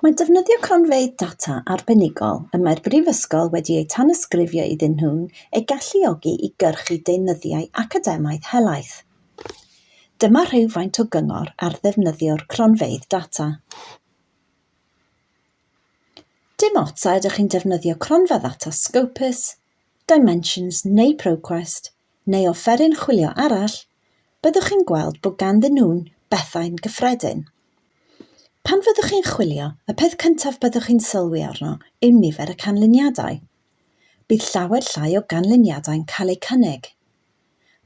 Mae defnyddio cronfeydd data arbenigol y mae'r Brifysgol wedi eu tanysgrifio iddyn nhw'n eu galluogi i gyrchu deunyddiau academaidd helaeth. Dyma rhywfaint o gyngor ar ddefnyddio'r cronfeydd data. Dim ots a ydych chi'n defnyddio cronfa ddata Scopus, Dimensions neu ProQuest, neu offeryn chwilio arall, byddwch chi'n gweld bod ganddyn nhw'n bethau'n gyffredin. Pan fyddwch chi'n chwilio, y peth cyntaf byddwch chi'n sylwi arno yw nifer y canlyniadau. Bydd llawer llai o ganlyniadau'n cael eu cynnig.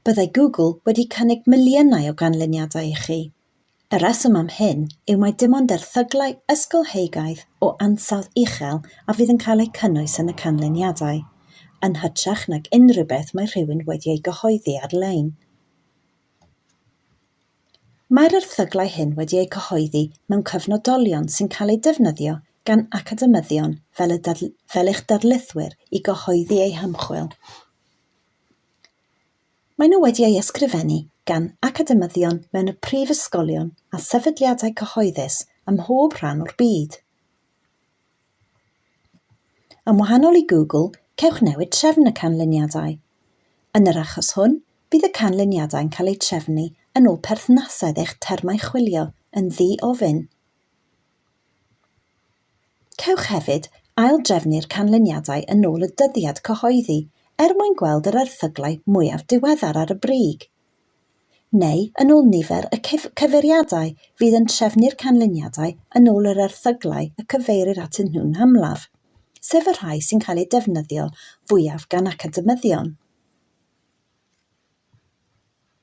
Byddai Google wedi cynnig miliynau o ganlyniadau i chi, Y rheswm am hyn yw mai dim ond erthyglau ysgolheigaidd o ansawdd uchel a fydd yn cael eu cynnwys yn y canlyniadau, yn hytrach nag unrhyw beth mae rhywun wedi ei gyhoeddi ar-lein. Mae'r erthyglau hyn wedi eu cyhoeddi mewn cyfnodolion sy'n cael eu defnyddio gan academyddion fel, y fel eich darlithwyr i gyhoeddi eu hymchwil. Maen nhw wedi ei ysgrifennu gan academyddion mewn y prifysgolion a sefydliadau cyhoeddus ym mhob rhan o'r byd. Yn wahanol i Google, cewch newid trefn y canlyniadau. Yn yr achos hwn, bydd y canlyniadau'n cael eu trefnu yn ôl perthnasedd eich termau chwilio yn ddi-ofyn. Cewch hefyd ail-drefnu'r canlyniadau yn ôl y dyddiad cyhoeddi er mwyn gweld yr erthyglau mwyaf diweddar ar y brig, neu yn ôl nifer y cyfeiriadau fydd yn trefnu'r canlyniadau yn ôl yr erthyglau y cyfeirir atyn nhw'n amlaf, sef y rhai sy'n cael eu defnyddio fwyaf gan academyddion.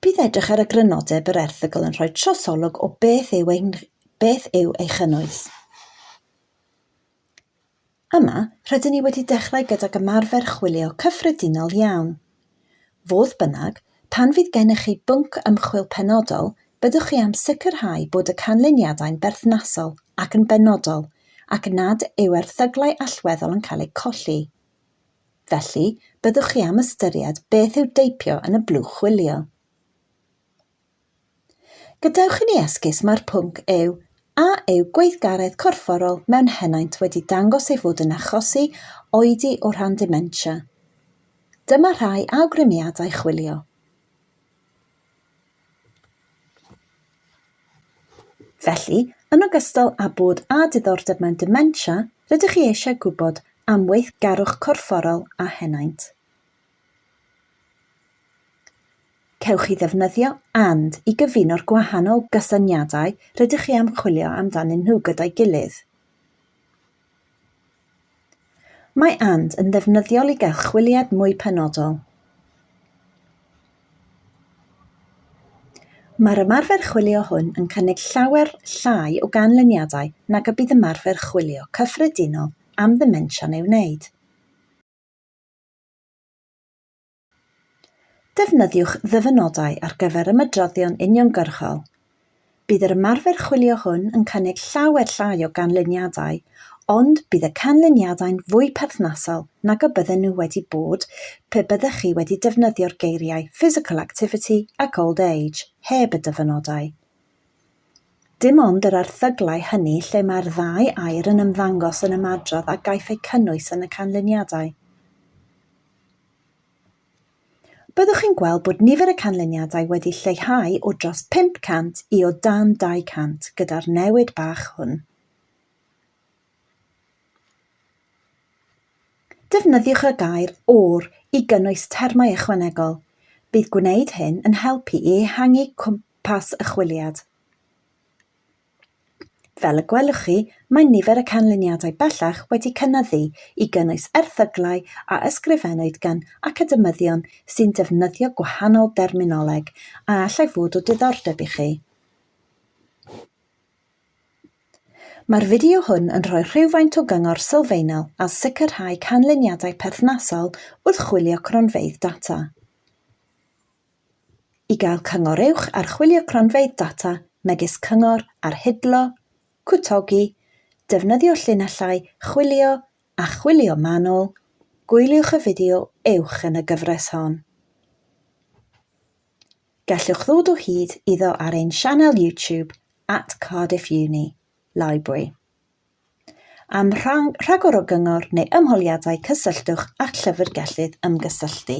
Bydd edrych ar y grynodeb yr erthygl yn rhoi trosolwg o beth yw, ein, beth yw ei chynnwys. Yma, rydyn ni wedi dechrau gydag ymarfer chwilio cyffredinol iawn. Fodd bynnag, pan fydd gennych chi bwnc ymchwil penodol, byddwch chi am sicrhau bod y canlyniadau'n berthnasol ac yn benodol, ac nad yw erthyglau allweddol yn cael eu colli. Felly, byddwch chi am ystyried beth yw deipio yn y blwch chwilio. Gadewch i ni esgus mai'r pwnc yw a yw gweithgaredd corfforol mewn henaint wedi dangos ei fod yn achosi oedi o ran dementia. Dyma rhai awgrymiadau chwilio. Felly, yn ogystal â bod â diddordeb mewn dementia, rydych chi eisiau gwybod am weithgarwch corfforol a henaint. Cewch chi ddefnyddio and i gyfuno'r gwahanol gysyniadau rydych chi am chwilio amdanyn nhw gyda'i gilydd. Mae and yn ddefnyddiol i gael chwiliad mwy penodol. Mae'r ymarfer chwilio hwn yn cynnig llawer llai o ganlyniadau nag y bydd ymarfer chwilio cyffredinol am ddemensia'n ei wneud. Defnyddiwch ddyfynodau ar gyfer ymedroddion uniongyrchol. Bydd yr ymarfer chwilio hwn yn cynnig llawer llai o ganlyniadau, ond bydd y canlyniadau'n fwy perthnasol nag y bydden nhw wedi bod pe byddech chi wedi defnyddio'r geiriau physical activity ac old age heb y dyfynodau. Dim ond yr erthyglau hynny lle mae'r ddau air yn ymddangos yn ymadrodd a gaiff eu cynnwys yn y canlyniadau. Byddwch chi'n gweld bod nifer y canlyniadau wedi lleihau o dros 500 i o dan 200 gyda'r newid bach hwn. Defnyddiwch y gair 'or' i gynnwys termau ychwanegol. Bydd gwneud hyn yn helpu i ehangu cwmpas y chwiliad. Fel y gwelwch chi, mae nifer y canlyniadau bellach wedi cynyddu, i gynnwys erthyglau a ysgrifennwyd gan academyddion sy'n defnyddio gwahanol derminoleg a allai fod o diddordeb i chi. Mae'r fideo hwn yn rhoi rhywfaint o gyngor sylfaenol ar sicrhau canlyniadau perthnasol wrth chwilio cronfeydd data. I gael cyngor uwch archwilio cronfeydd data megis cyngor ar hidlo, cwtogi, defnyddio llinellau chwilio a chwilio manwl, gwyliwch y fideo uwch yn y gyfres hon. Gallwch ddod o hyd iddo ar ein sianel YouTube at Cardiff Uni, Library. Am rhagor o gyngor neu ymholiadau cysylltwch â'ch llyfrgellydd ymgysylltu.